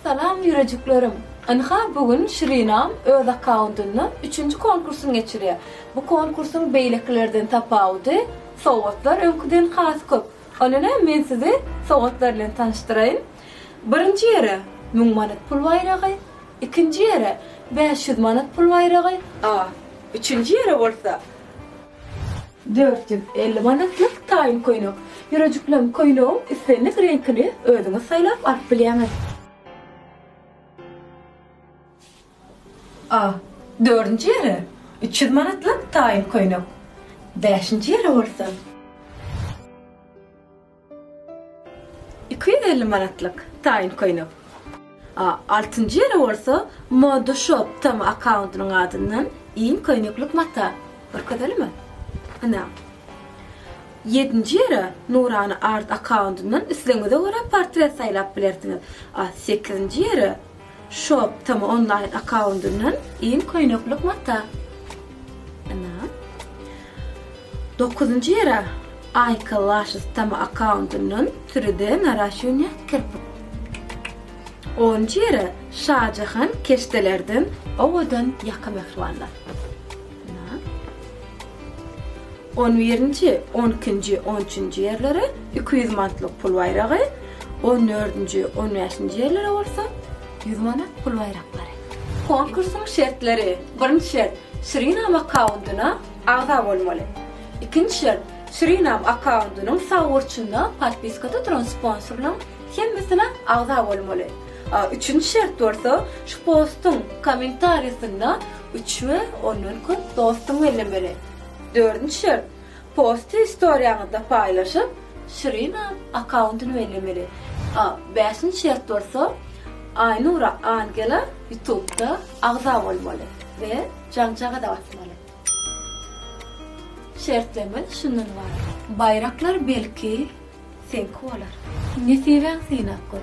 Salam ýürejiklerim! Ynha bu gün Şirinam öz akkauntyndan üçünji konkursyny geçirýär. Bu konkursyň beýlekilerden tapawudy, sowgatlar öňküden has köp. Onda näm men sizi sowgatlar bilen tanyşdyraýyn. Birinji ýere müň manat pul baýragy, ikinji ýere bäş ýüz manat pul baýragy, a üçünji ýere bolsa, Dört ýüz elli manatlyk taýyn köýnek. Ýürejiklem köýnegiň islendik reňkini özüňiz saýlap alyp bilýäňiz. A. Dördünji ýere üç ýüz manatlyk taýyn köýnek. Bäşinji ýere bolsa. Iki ýüz elli manatlyk taýyn köýnek. A Altynjy ýere bolsa Moda Shop tama akkauntynyň adyndan iň köýneklik mata. Görkezelimi? Ynha. Ýedinji ýere Nurana Art akkauntynyň islegiňize görä portret saýlap bilersiňiz. A Sekizinji ýere Shop tm onlaýn akkaundyndan iň köýneklik mata. Ana. Dokuzynjy ýere Aýka Lashes tm akkaundyndan sürüde naraşýunýa kirpik. Onunjy ýere Şajahan keşdelerden owadan ýaka mähribanlar. On birinji, on ikinji, on üçünji ýerlere iki ýüz manatlyk pul baýragy, on dördünji, on bäşinji ýerlere bolsa ýüz manat pul baýraklary. Konkursyň şertleri, birinji şert, Suriname akkaundyna agza bolmaly. Ikinji şert, Suriname akkaundynyň sag burçunda podpiskada duran sponsorlaryň Hemmesine agza bolmaly. Üçünji şert bolsa şu postuň kommentariýasynda üç we ondan köp dostuň bellemeli. Dördünji şert posty istoriýaňyzda paýlaşyp Şirina akkauntyny bellemeli. Bäşinji şert bolsa Aýnura Angela ýutubda agza bolmaly we jaňjaga-da basmaly. Şertlerimiz şundan ybarat. Baýraklar belki Seňki bolar. Nesibäň synap gör.